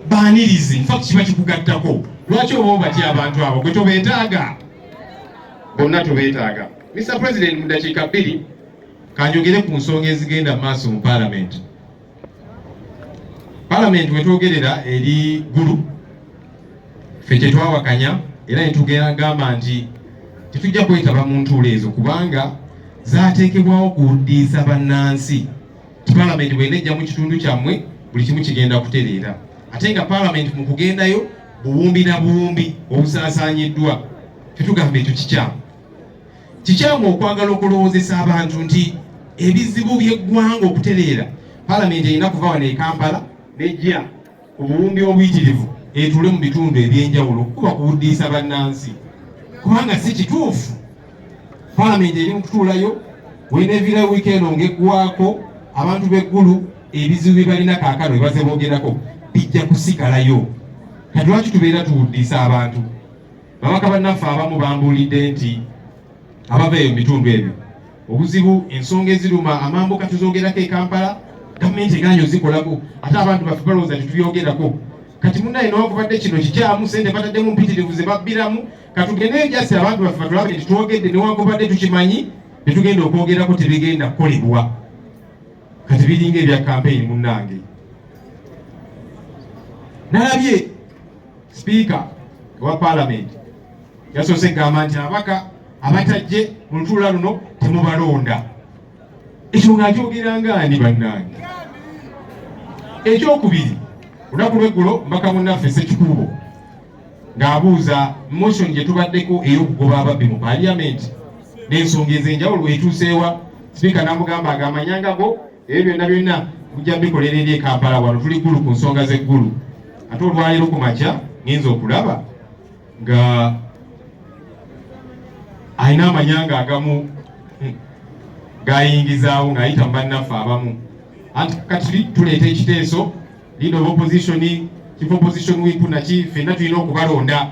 baanirizi nfa kiba kikugattako lwaki oba obatya abantu abo gwe tobeetaaga bonna tobeetaaga mr president mu ddakiika bbiri kanjogere ku nsonga ezigenda mu maaso mu palamenti palamenti wetwogerera eri gulu fe kyetwawakanya era netugamba nti tetujja kwetaba mu ntuula ezo kubanga zateekebwawo kuwuddiisa bannansi Palamenti bwenejja mu kitundu kyammwe buli kimu kigenda kutereera ate nga palamenti mu kugendayo buwumbi na buwumbi obusaasaanyiddwa tetugamba ekyo kikyamu kikyamu okwagala okulowoozesa abantu nti ebizibu by'eggwanga okutereera palamenti erina kuva wano e kampala nejja obuwumbi obuyitirivu etuule mu bitundu eby'enjawulo kuba kuwuddiisa bannansi kubanga si kituufu palamenti eri mu kutuulayo weneviira wiikendi ng'eggwako abantu b'eggulu ebizibu bye balina kaakano bye baze boogerako bijja kusigalayo kati lwaki tubeera tuwuddiisa abantu babaka bannaffe abamu bambuulidde nti abava eyo mu bitundu ebyo Obuzibu ensonga eziruma amambuka tuzogerako e Kampala, gavumenti egaanyi ozikolako ate abantu baffe balowooza nti tubyogerako. Kati munaye newakubadde kino kikyamu sente bataddemu mpitirivu ze babbiramu, katugendeyo jasi abantu baffe batulabe nti twogedde newakubadde tukimanyi tetugenda okwogerako tebigenda kukolebwa. Kati biringa ebya kampeyini munnange. Nalabye Sipiika wa Palamenti yasoose kugamba nti ababaka abatajje mu lutuula luno temubalonda. Ekyo ng'akyogeranga ani bannange? Ekyokubiri, olunaku lw'eggulo mbaka munnaffe Ssekikubo ng'abuuza motion gye tubaddeko ey'okugoba ababbi mu Palamenti n'ensonga ez'enjawulo etuuseewa, sipiika n'amugamba ag'amanyanga go ebyo byonna byonna mujja bikolera eri ekampala wano tuli ggulu ku nsonga z'eggulu ate olwaleero ku makya ngenza okulaba nga alina amanyanga agamu hmm, gayingizaawo ng'ayita mu bannaffe abamu anti kati tuleeta ekiteeso lead of opposition chief opposition whip naki fenna tulina okubalonda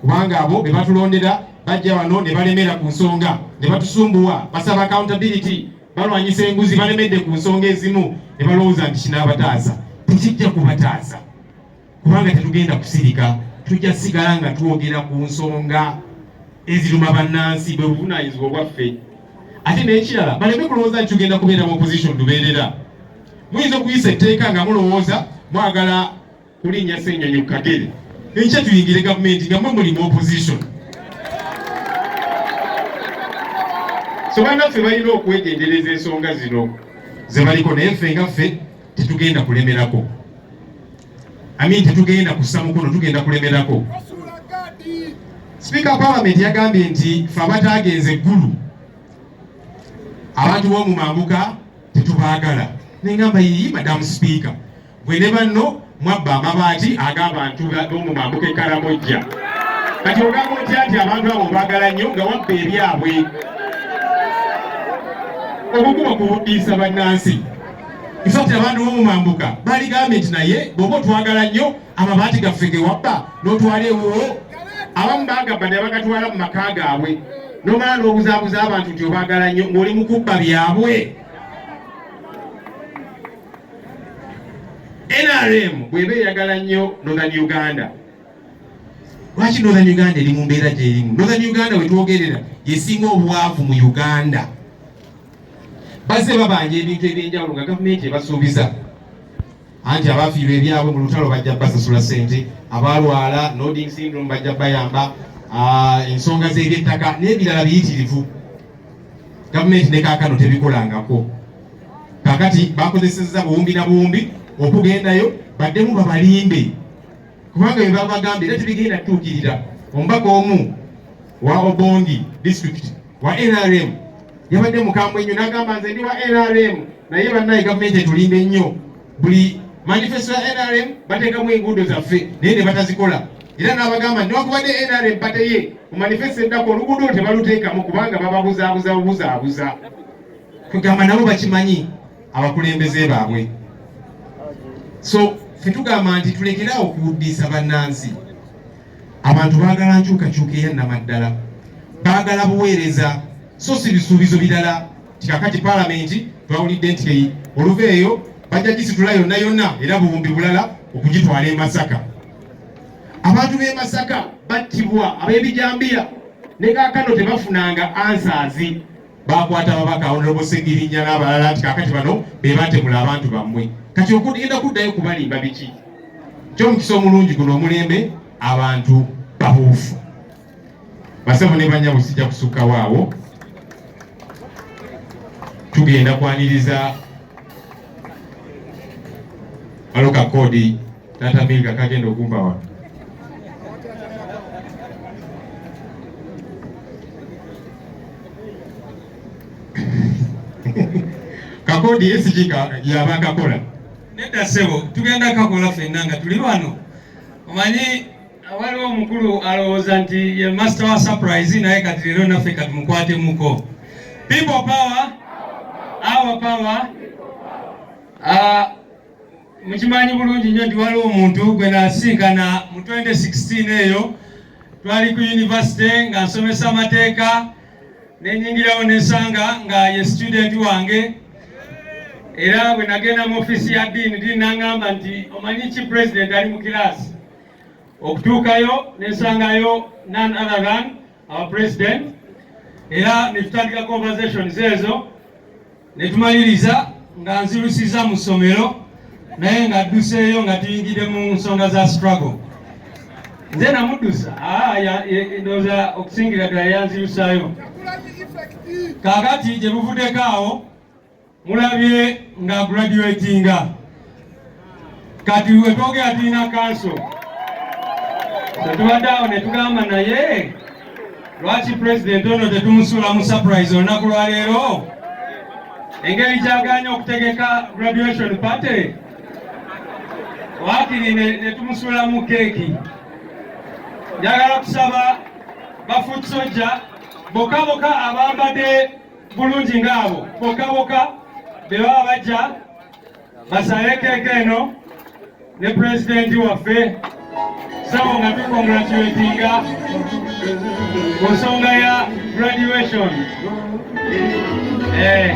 kubanga abo be batulondera bajja wano ne balemera ku nsonga ne batusumbuwa basaba accountability balwanyisa enguzi balemedde ku nsonga ezimu ne balowooza nti kinaabataasa tekijja kubataasa kubanga tetugenda kusirika tujja sigala nga twogera ku nsonga eziruma bannansi bwe buvunaanyizibwa obwaffe ate n'ekirala baleme kulowooza nti tugenda kubeera mu opposition lubeerera muyinza okuyisa etteeka nga mulowooza mwagala kulinnya ssenyonyi ku kagere enkya tuyingire gavumenti nga mwe muli mu opposition so bannaffe balina okwegendereza ensonga zino zebaliko naye ffe nga ffe tetugenda kulemerako amin tetugenda kussa mukono tugenda kulemerako sipiika palamenti yagambye nti fe abataagenze eggulu abantu b'omu mambuka tetubaagala nengamba yiyi madamu sipiika Gwe ne banno mwabba amabaati ag'abantu b'omu mambuka e Karamojja. Kati ogamba otya nti abantu abo obaagala nnyo nga wabba ebyabwe? Obuguba kubuddiisa bannansi. Ifakti abantu b'omu mambuka baligambye nti naye bw'oba otwagala nnyo amabaati gaffe ge wabba n'otwala ewuwo abamu bagamba ne bagatwala mu maka gaabwe nomala n'obuzaabuza abantu nti obaagala nnyo ng'oli mu kubba byabwe NRM bweba eyagala nnyo Northern Uganda lwaki Northern Uganda eri mu mbeera gyerimu? Northern Uganda wetwogerera yesinga obwavu mu Uganda. Bazze babanja ebintu ebyenjawulo nga gavumenti ebasuubiza anti abafiirwa ebyabwe mu lutalo bajja basasula sente, abalwala nodding syndrome bajja bayamba, ah, ensonga z'ebyettaka n'ebirala biyitirivu gavumenti ne kaakano tebikolangako. kakati bakozesezza buwumbi na buwumbi okugendayo baddemu babalinde kubanga bebabagambye era tebigenda kutuukirira omubaka omu wa obongi district wa nrm yabadde mukambwe nnyo nagamba nze ndi wa nrm naye bannaye gavumenti etulimba ennyo buli manifesto ya nrm bateekamu enguudo zaffe naye ne batazikola era nabagamba newakubadde nrm bateye mu manifesto eddako oluguudo tebaluteekamu kubanga bababuzaabuza bubuzaabuza kwegamba nabo bakimanyi abakulembeze baabwe so fetugamba nti tulekerawo okuwuddiisa bannansi abantu baagala nkyukakyuka eya namaddala baagala buweereza so si bisuubizo birala tikakati palamenti twawulidde nti oluva eyo bajja gisitula yonna yonna era buwumbi bulala okugitwala e masaka abantu b'e masaka battibwa ab'ebijambiya ne kakano tebafunanga ansaazi bakwata ababaka honorable Ssegirinya n'abalala nti kakati bano be batemula abantu bammwe kati okugenda kuddayo kubalimba biki kyomukisa omulungi guno omulembe abantu babuufu basebo ne banyabo sijja kusukkawo awo tugenda kwaniriza aloka kodi Tata Minga kagenda okumba wano. Kakodi SG yaba kakola. Nedda sebo tugenda kakola fenna nga tuli wano. Omanyi waliwo omukulu alowooza nti ye master wa surprise naye kati leero naffe kati mukwatemuko. People power, our power. Uh, Mukimanyi bulungi nnyo nti waliwo omuntu gwe nasinkana mu 2016 eyo twali ku yunivasite nga nsomesa amateeka nenyingirawo nesanga nga ye situdenti wange era bwe nagenda mu ofiisi ya diini diini nangamba nti omanyi ki pulezidenti ali mu kiraasi okutuukayo nesangayo none other than our president era netutandika conversations ezo ne tumaliriza nga nzirusiza mu ssomero naye nga dduseeyo nga tuyingidde mu nsonga za struggle nze namuddusa ah, ndowooza okusingira ddala yanzirusaayo kakati gye buvuddeko awo mulabye nga graduatinga kati we twogera tulina kanso tetubadde awo ne tugamba naye lwaki pulezidenti ono tetumusuula mu surprise olunaku lwaleero engeri gyaganya okutegeka graduation party wakiri netumusuula mu keeki njagala kusaba bafoot sojja boka boka abambadde bulungi ngaabo boka boka bebaba bajja basaekeeka eno ne pulezidenti waffe sabo nga tukongratulatinga ku nsonga ya graduation eh.